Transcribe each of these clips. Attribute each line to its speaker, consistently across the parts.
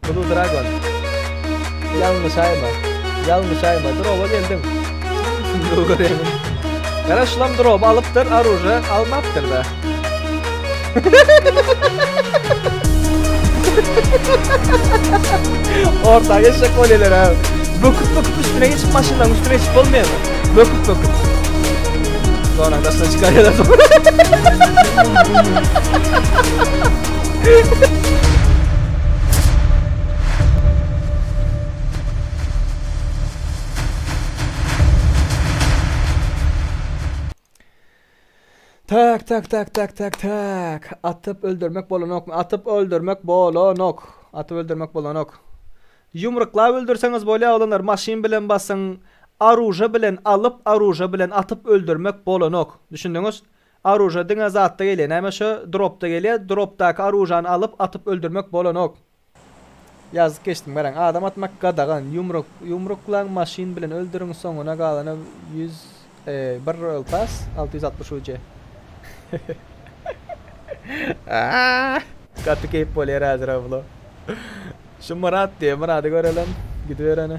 Speaker 1: Blue Dragon. Ýalňyş aýma. Ýalňyş aýma. Droba geldim. Gara şulam drop alypdyr, aruje almapdyr da. Orta geçecek kolyeler abi. Böküp böküp üstüne geçip maşından üstüne geçip olmuyor mu? Böküp böküp. Sonra arkasına çıkarıyorlar. Tak tak tak tak tak tak. Atyp öldürmek bolanok. Atyp öldürmek bolanok. Atyp öldürmek bolanok. Yumruklap öldürseňiz bolýar oglanlar, maşyn bilen basyň. Aruja bilen alyp, aruja bilen atyp öldürmek bolanok. Düşündiňiz? Aruža diňe zatda gelýä näme şo dropda gelýä dropdaky aružany alyp atyp öldürmek bolanok. Ýazyp geçdim garaň adam atmak gadagan ýumruk ýumruklaň maşyn bilen öldüriň soňuna galana ýüz bir royal pass alty ýüz altmyş uc aah. Gaty keýp bolýar häzir Ablo. Şu Myrat diýen Myrady göreliň. Gidibereni.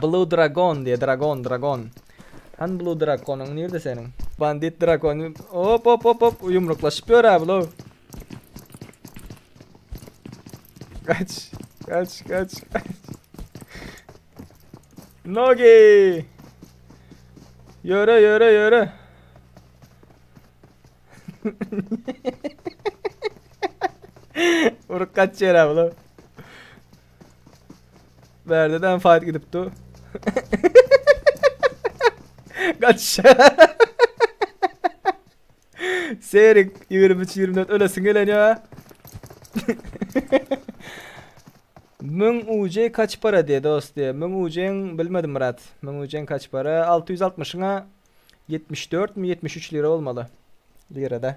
Speaker 1: Blue dragon diýe dragon dragon. Hany blue drakonyň nirde seniň? Bandit drakon. Hop hop hop hop ýumruklaşyp ýörä bular. Kaç. Kaç kaç kaç. Nogi. Yöre yöre yöre. Uruk kaç yere abla. Berde de fight gidip du. Kaç. Serik 23 24 ölesin gelen ya. Mün UC kaç para diye dost diye. Mün UC'nin bilmedim Murat. Mün UC'nin kaç para? 660'ına 74 mi 73 lira olmalı. Lirada.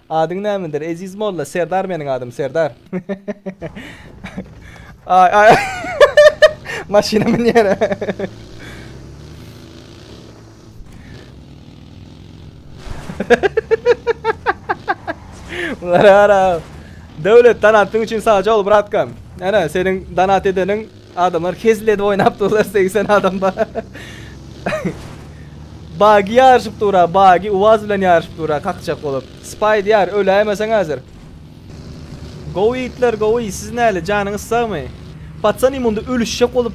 Speaker 1: Adyň nämedir Eziz molla Serdar meniň adym Serdar Aý aý Maşyna münýär Bulara Döwlet donatyn üçin sagjol bratkam. Ana seniň donat edeniň Adamlar hezil edip oýnap durlar segsen adam bar. Bagy ýaryşyp dura bagy uaz bilen ýaryşyp dura kakjak bolup. Spaý diýar öläýmeseň häzir. Gowy ýigitler gowy siz näle janyňyz sagmy. Patsany munda ölüşjek bolup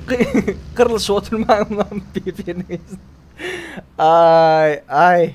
Speaker 1: gyrlyşyp oturmaň. Aý aý.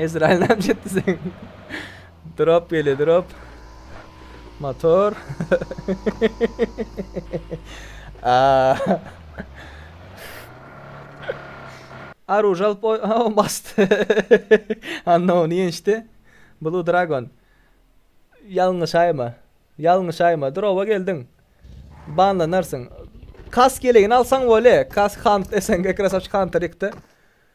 Speaker 1: Ezraýyl näme etdi sen? Drop gelýär, drop. Motor. Aa. Aruj alyp oý, ha on basdy. Anna ony ýençdi. Blue Dragon. Ýalňyş aýma. Ýalňyş aýma. Drowa geldiň. Banlanarsyň. Kas gelegini alsaň bole. Kas Hunt SNG Krasavçy Hunter ýykdy.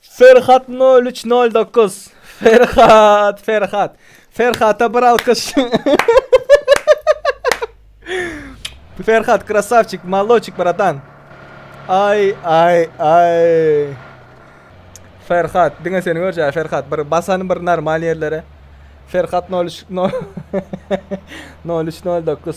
Speaker 1: Ferhat nol üç nol dokuz. Ferhat, Ferhat. Ferhata bir alkyş. Ferhat krasavçik, maloçik bratan. Ay ay ay. Ferhat, diňe seni görjä Ferhat. Bir basan bir normal yerlere. Ferhat 03 0309.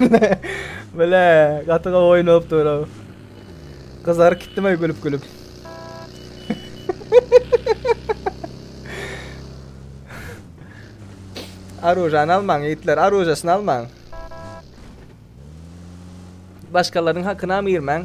Speaker 1: Bile, bile, gaty gawy oýnap dur. Gyzaryp gitdim ay gülüp gülüp. Arujanı almaň yiğitler, arujasını almaň. Başkalarının hakkına mı girmän?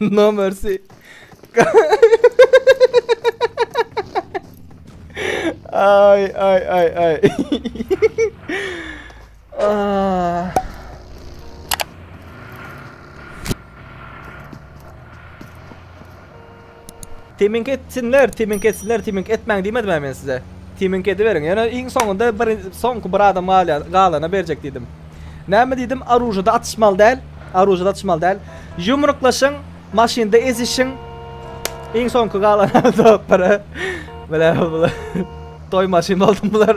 Speaker 1: No mercy. Ay ay ay ay. Ah. Timink etsinler, timink etsinler, timink etmäň diýmedimä men size. Timink ediberiň. Ýöne iň soňunda bir soňky bir adam galýar, galana berjek diýdim. Näme diýdim, oružada atyşmaly däl, oružada atyşmaly däl. Ýumruklaşyň, maşynda ezişiň. Iň soňky galan adam topara. Bile bile. Toý maşyn boldy bular.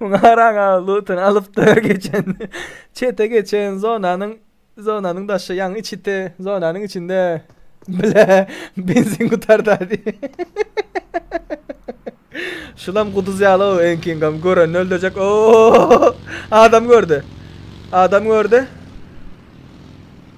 Speaker 1: Muňa garaň aga lutun alypdy geçen. Çete geçen zonanyň zonanyň daşy ýaňy içite zonanyň içinde bile benzin gutarda diý. Şulam guduz ýaly o enkingam görenini öldürjek. Oo! Adam gördi. Adam gördi.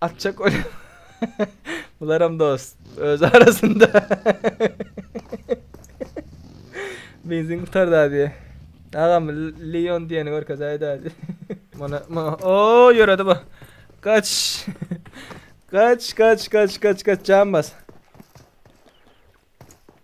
Speaker 1: Atjak öyle. Bularam dost. Öz arasında. Benzin kurtardı abi. Ağam Leon diyeni görkez ayda abi. Bana, bana. Oo yöredi bu. Kaç. kaç kaç kaç kaç kaç can bas.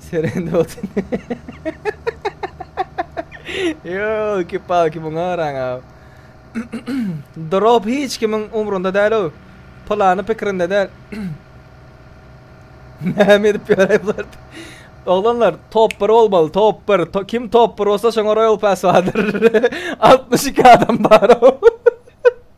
Speaker 1: Serende otin. Yo, iki pa, iki muňa araň abi. Drop hiç kimin umrunda däl o. Plany pikirinde däl. Näme edip ýöräý bular? Oglanlar, top 1 bolmaly, top 1. To, kim top 1 bolsa şoňa Royal Pass bardyr. 62 adam bar.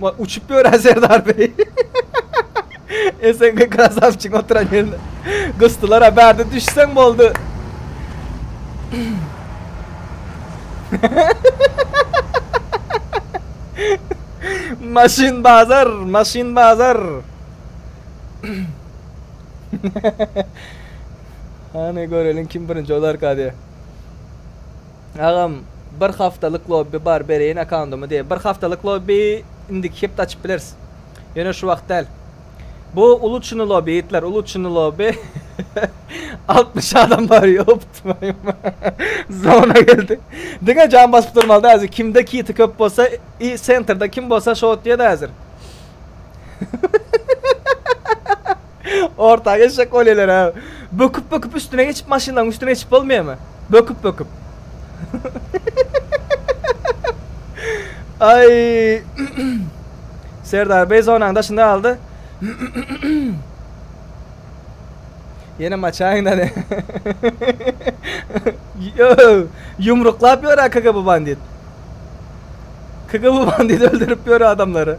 Speaker 1: Ma uçup ýören Serdar beý. SNG krasavçyň oturan ýerine. Gysdylar ha bärde düşseň boldy. Maşyn bazar, maşyn bazar. Hany göreliň kim birinji olarka diye. Agam bir haftalyk lobby bar bereýin akkaundymy diýip. Bir haftalyk lobby indiki hepde açyp bileris. Ýöne şu wagt däl. Bu uly çyny lobby ýigitler uly çyny lobby. 60 adam bar ýop twaýym. Zona geldi. Diňe jan basyp durmaly da häzir kimde kiti köp bolsa i sentrda kim bolsa şo otýa da häzir. Ortaga eşek bolýalar abi. Böküp böküp üstüne geçip maşynlaryň üstüne geçip bolmaýamy? Böküp böküp. Ay. Serdar Bey zonanın daşında aldı. Yine maçayın hadi. Yumruklap yiyor ha kaka bu bandit. Kaka bu bandit öldürüp yiyor adamları.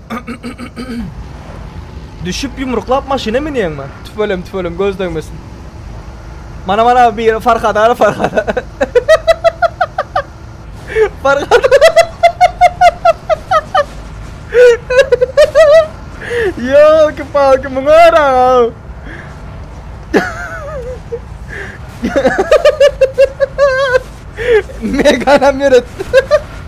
Speaker 1: Düşüp yumruklap maşyna münýäňmi? Tüfelem tüfelem göz degmesin. Mana mana bir Farhad ara Farhad. Farhad. Yo ki palki muňa ara. Megan hem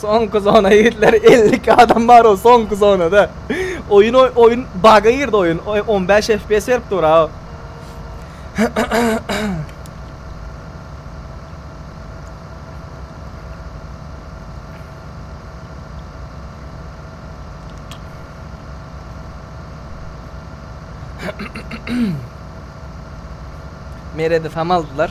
Speaker 1: Soňky zona ýigitler 52 adam bar o soňky zonada. Oýun oýun baga girdi oýun. 15 FPS berip dur ha. Meredi tam aldylar.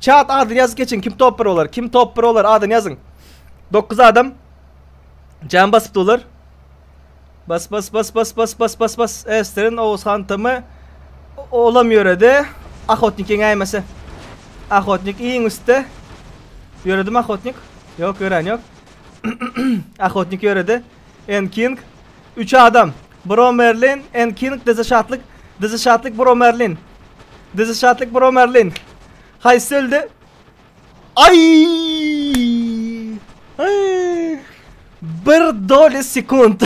Speaker 1: Çat adyny ýazyp geçiň kim top 1 bolar kim top 1 bolar adyny ýazyň. 9 adam. Jan basypdy olar. Bas bas bas bas bas bas bas bas. Esterin Oğuzhan Tamı olam yöredi. Ahotnik yeňäýmese. Ahotnik iň üstte. Yöredim Ahotnik. Yok yören yok. Ahotnik yöredi. N. King, Üç adam, Bro Merlin, N. King, Dizi Şatlyk, Dizi Şatlyk, Bro Merlin, Dizi Şatlyk, Bro Merlin. Haýsy öldi? Aý! Aý! Bir doli sekund.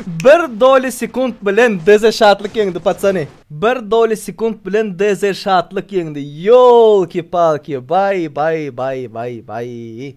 Speaker 1: Bir doli sekund bilen Dizi Şatlyk ýeňdi, patsany. Bir doli sekund bilen Dizi Şatlyk ýeňdi. Ýolki-palki, baý, baý, baý, baý, baý.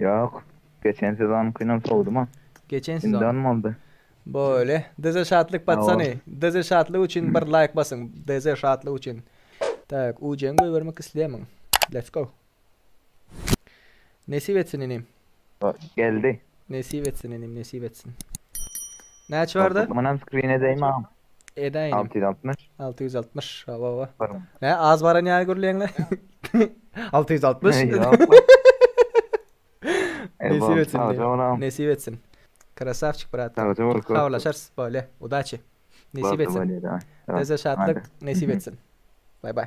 Speaker 2: Ýok, geçen sezonykynam sowdum-a. Geçen sezon.
Speaker 1: Indem
Speaker 2: boldy. Bolýa.
Speaker 1: Dz Şatlyk patsany. Dz Şatlyk üçin bir laýk basyň. Dz Şatlyk üçin. Tak, UC-ni goýbermek isleýärmiň? Let's go. Nesip etsin inim. Geldi.
Speaker 2: Nesip etsin
Speaker 1: inim, nesip etsin. Näçe barda? Munam skrin edeymi
Speaker 2: agam? Edäýinim. Alty ýüz
Speaker 1: altmyş. Alty
Speaker 2: ýüz altmyş. Hawa, hawa.
Speaker 1: Barmy? Nä, az baran ýaly gürleýäňle? Alty ýüz altmyş. Nesip etsin. Nesip etsin. Krasavçik, brat. Habarlaşarys, bolýa. Udaçi. Nesip etsin. Size şatlyk, nesip etsin. Bay bay.